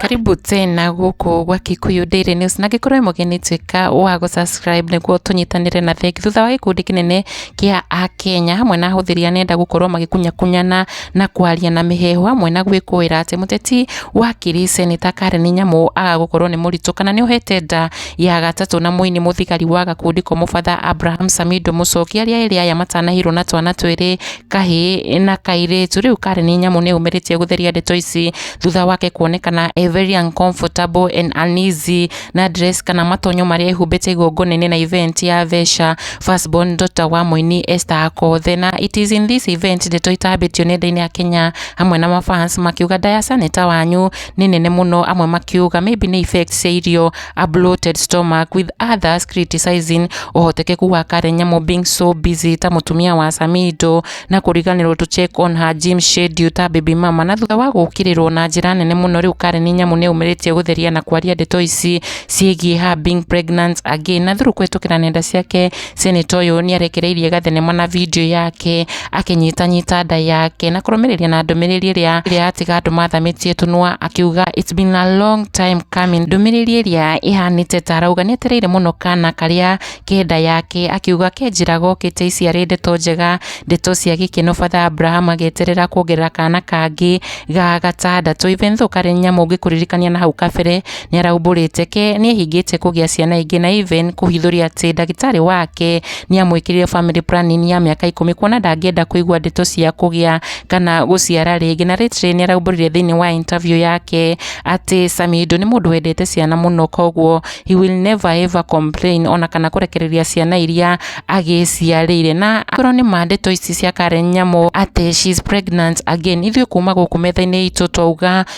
karibu tena gũkũ gwa Kikuyu Daily News na ngĩkorwo wĩ mũgeni tuĩka wa gũ subscribe nĩguo tũnyitanĩre na thĩki thutha wa gĩkundi kĩnene kĩa Akenya hamwe na ahũthĩri a nenda gũkorwo magĩkunyakunyana na kwaria na mĩheehũ hamwe na gwĩkũĩra atĩ mũteti wa Kĩrĩ Seneta Karen Nyamu agagũkorwo nĩ mũritũ kana nĩ ohete nda Ya gatatũ na mũini mũthigari wa gakundi ko mũbatha Abraham Samido Mũcoki arĩa erĩ aya matanahirwo na twana twĩrĩ kahĩ na kairĩtu rĩu karĩ nĩ nyamũ nĩ yumĩrĩtie gũtheria ndeto ici thutha wake kuonekana e very uncomfortable and uneasy na dress kana matonyo marĩa ehumbĩte igongona-inĩ na event ya Vesha first born daughter wa mũini Esther Akothe na it is in this event ndeto itambĩtio nenda-inĩ ya Kenya hamwe na mafans makiuga Ndayasa nĩ ta wanyu nĩ nene mũno amwe makiuga maybe nĩ effect cia irio a bloated stomach with others criticizing ũhotekeku wa Karen Nyamu being so busy ta mũtumia wa Samido na kũriganĩrwo to check on her gym schedule ta baby mama na thutha wa gũkĩrĩrwo na njĩra nene mũno rĩu Karen Nyamu nĩ aumĩrĩtie gũtheria na kwaria ndeto ici ciĩgiĩ her being pregnant again na through kũhĩtũkĩra nenda ciake Seneta ũyũ nĩ arekereirie gathenema na video yake akĩnyitanyita nda yake na kũrũmĩrĩria na ndũmĩrĩri ĩrĩa ĩrĩa yatiga andũ mathamĩtie tũnua akiuga it's been a long time coming ndũmĩrĩri ĩrĩa ĩhanĩte ta arauga nĩ etereire mũno kana karĩa kenda yake akiuga kenjĩra gokĩte iciarĩ ndeto njega ndeto cia gĩkeno father Abraham agĩeterera kuongerera kana kangĩ ga gatandatũ even though karĩ nyamũ ngĩkũririkania na hau kabere Nĩaraumbũrĩte ke nĩehingĩte kũgĩa ciana ingĩ na even kũhithũria atĩ ndagĩtarĩ wake nĩamwĩkĩrire family planning ya mĩaka ikũmi kuona ndangĩenda kũigua ndeto cia kũgĩa kana gũciara rĩngĩ na lately nĩaraumbũrire thĩinĩ wa interview yake atĩ Samido nĩ mũndũ wendete ciana mũno koguo he will never ever complain ona kana kũrekereria ciana iria agĩciarĩire na akorwo nĩ ma ndeto ici cia Karen Nyamũ atĩ she is pregnant again ithuĩ kuma gũkũ metha-inĩ itũ twauga